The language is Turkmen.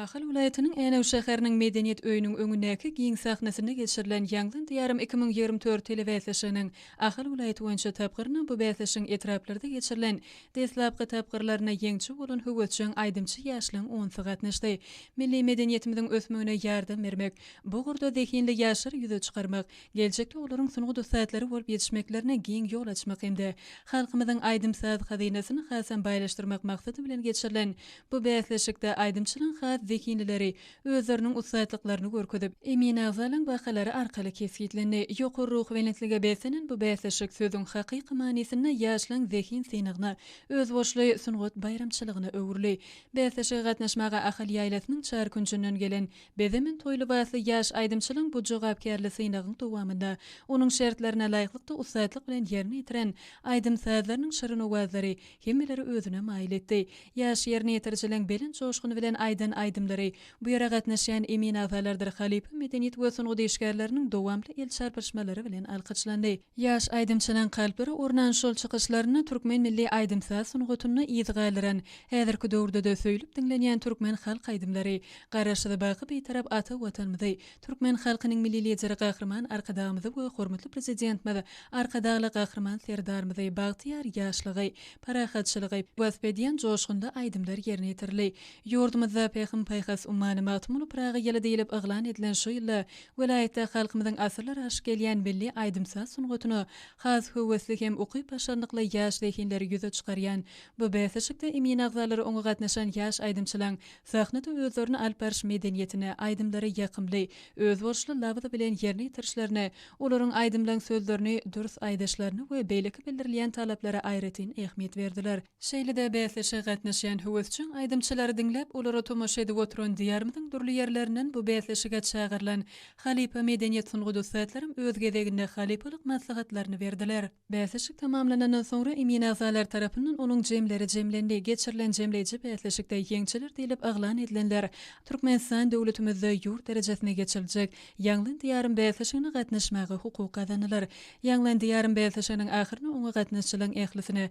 Ahal welaýatynyň Änew şäheriniň Medeniýet öýüniň öňündäki giň sahnasynda geçirilen Ýaňlan Diýarym iki müň ýigrimi dört telebäsleşiginiň Ahal welaýaty boýunça tapgyryna bu bäsleşigiň etraplarda geçirilen deslapky tapgyrlarynda ýeňçi bolan höwesjeň aýdymçy ýaşlaryň onsy gatnaşdy. Milli medeniýetimiziň ösmegine ýardam bermek, bu ugurda zehinli ýaşlary ýüze çykarmak, geljekde olaryň sungat ussatlary bolup ýetişmeklerine giň ýol açmak hem-de halkymyzyň aýdym-saz hazynasyny hasam baýlaşdyrmak maksady bilen geçirilen bu bäsleşikde aýdymçylygyň has zehinlileri özleriniň ussatlyklaryny görkezip, emin agzalyň bahalary arkaly kesgitlendi. Ýokary ruhubelentlige beslenen bu bäsleşik sözüň hakyky manysynda ýaşlaň zehin synagyna, özboluşly sungat baýramçylygyna öwrüldi. Bäsleşige gatnaşmaga Ahal ýaýlasynyň çar künjünden gelen Bezemen toý lybasly ýaş aýdymçylaň bu jogapkärli synagyň dowamynda onuň şertlerine laýyklykda ussatlyk bilen ýerine ýetiren aýdym-sazlarynyň şirin owazlary hemmeleri özüne maýyl etdi. Ýaş ýerine ýetirjileň belent joşgun bilen aýdan aýdymlary, bu ýere gatnaşýan emin agalardyr halypa medeniýet we sungat işgärleriniň dowamly el çarpyşmalary bilen alkyşlandy. Ýaş aýdymçynyň kalplary ornan şol çykyşlarynda türkmen milli aýdym-saz sungatyny yz galdyran, häzirki döwürde-de söýlüp diňlenýän türkmen halk aýdymlary, Garaşsyz, baky Bitarap ata Watanymyzy, türkmen halkynyň Milli Lideri Gahryman Arkadagymyzy we hormatly Prezidentimiz Arkadagly Gahryman Serdarymyzy, bagtyýar ýaşlygy, parahatçylygy wasp edýän joşgunly aýdymlar ýerine ýetirildi. Ýurdumyzda Pähim-paýhas ummany Magtymguly Pyragy ýyly diýlip yglan edilen şu ýylda Welaýatda halkymyzyň asyrlar aşyp gelýän milli aýdym-saz sungatyna has höwesli hem ukyp-başarnykly ýaş zehinleri ýüze çykarýan bu bäsleşikde emin agzalary oňa gatnaşan ýaş aýdymçylaň sahnada özlerini alyp baryş medeniýetini, aýdymlary ýakymly, özboluşly labzy bilen ýerine ýetirişlerini, olaryň aýdymlaryň sözlerini dürs aýdyşlaryna we beýleki bildirilýän talaplara aýratyn ähmiýet berdiler. Şeýle-de bäsleşige gatnaşýan höwesjeň aýdymçylary diňläp, olara tomaşa edip oturan Diýarymyzyň dürli ýerlerinden bu bäsleşige çagyrylan halypa medeniýet sungat ussatlaram öz gezeginde halypalyk maslahatlaryny berdiler. Bäsleşik tamamlanandan soňra emin agzalar tarapyndan onuň jemleri jemlendi. Geçirilen jemleýji bäsleşikde ýeňçiler diýlip yglan edilenler Türkmenistan döwletimizde ýurt derejesinde geçiriljek Ýaňlan Diýarym bäsleşigine gatnaşmaga hukuk gazanylar. Ýaňlan Diýarym bäsleşiginiň ahyrynda oňa gatnaşjylaň ählisine